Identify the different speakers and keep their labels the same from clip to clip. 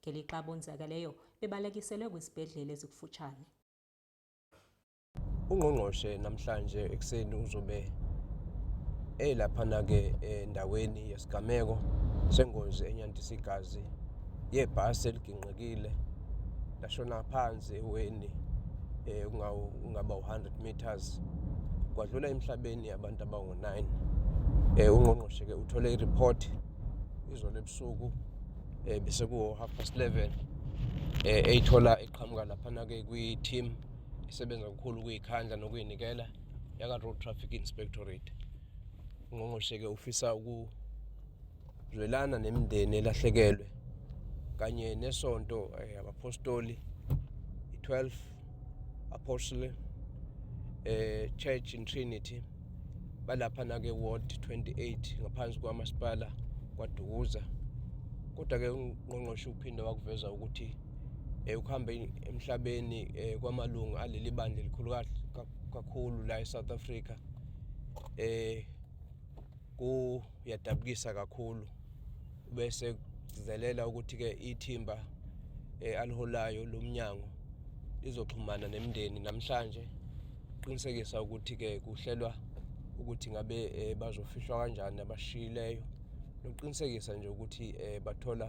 Speaker 1: ngelixa abonzakaleyo bebalekiselwe kwizibhedlele ezikufutshane
Speaker 2: ungqongqoshe namhlanje ekuseni uzobe elaphana-ke endaweni yesigameko sengozi enyandisa igazi yebhasi eliginqikile lashona phansi eweni eh, kungaba u-100 meters kwadlula emhlabeni abantu abangu-9 um eh, ungqongqoshe-ke uthole iripoti izolo ebusuku eh bese ku half past 11 eh eyithola eqhamuka lapha na ke kwi team isebenza kakhulu kuyikhandla nokuyinikela yaka road traffic inspectorate ungqongqoshe ke ufisa ukuzwelana nemindeni elahlekelwe kanye nesonto eh, abapostoli i12 Apostle eh Church in Trinity balapha na ke ward 28 ngaphansi kwamasipala kwaDukuza kodwa ke ungqongqoshe uphinde wakuveza ukuthi eh ukuhamba emhlabeni eh, kwamalungu aleli bandla elikhulu kakhulu la eSouth Africa eh kuyadabukisa kakhulu bese kugcizelela ukuthi-ke ithimba eh, aliholayo lomnyango lizoxhumana nemndeni namhlanje qinisekisa ukuthi-ke kuhlelwa ukuthi ngabe eh, bazofihlwa kanjani abashiyileyo nokuqinisekisa nje ukuthi eh, bathola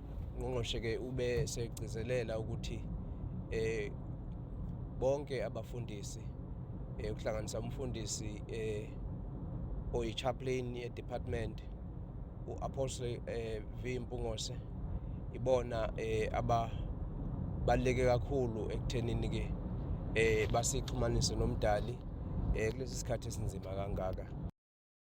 Speaker 2: Ungqongqoshe-ke ube segcizelela ukuthi eh bonke abafundisi eh kuhlanganisa umfundisi eh oyichaplain ye-department u-apostle eh V Mpungose ibona eh ababaleke kakhulu ekuthenini ke eh basixhumanise nomdali eh kulesi sikhathi esinzima kangaka